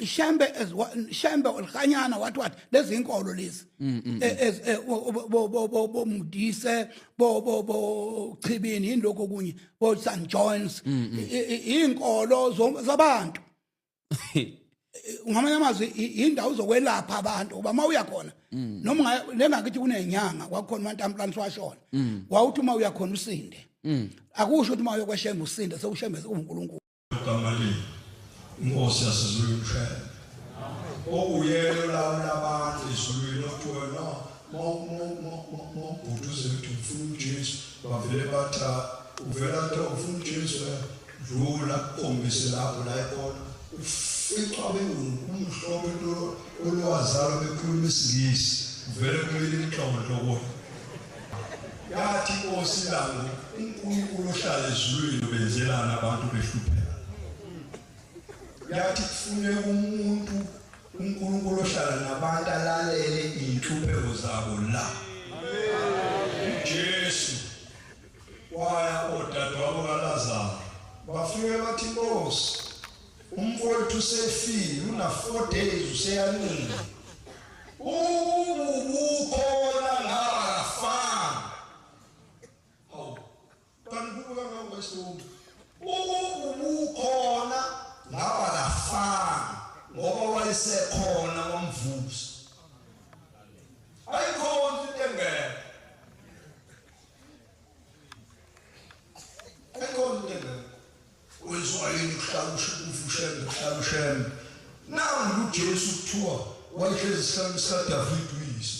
shembe shembe olhanyana what what lezi inkolo lezi mm, mm, mm. bo mudise bo bo bo chibini indloko kunye bo St John's inkolo zabantu ngamanye amazwi indawo zokwelapha abantu uba mawuya khona noma lengakithi kunenyanga kwakhona umantamplani siwashona wawuthi uma uya khona usinde akusho ukuthi uma uyokweshembe usinde sewushembe uNkulunkulu Gamali inkosi yasezulu umshele okuyena olawula abantu ezulwini okuthiwa no mawubhuti uze kuthi ufuna ujesu bavele batha uvela kuthiwa ufuna ujesu dlula kombise lapho la ekhona uficwa bengukumhlobo olwazalo bekhuluma isingisi uvele kumele inhlongo lokona Yathi inkosi langu uNkulunkulu ohlala ezulwini ubenzelana abantu behlupheka. Yathi kufuneka umuntu uNkulunkulu ohlala nabantu alalele inhlupheko zabo la. Jesu waya odadewabo kaLazaro bafike bathi inkosi Umfowethu usefile una 4 days useyancile. Ubukhona ngaba fana. Hawu. Kanti kubuka ngawo wesonto. Ubukhona ngaba lafana ngoba wayesekhona wamvusa. Ayikhona into engeke. Ayikhona into engeke. Kwenziwa yini ukuhlala ushukufu ushembe ukuhlala ushembe? Nangu uJesu kuthiwa wayehlezi esihlanu sikaDavide uyise.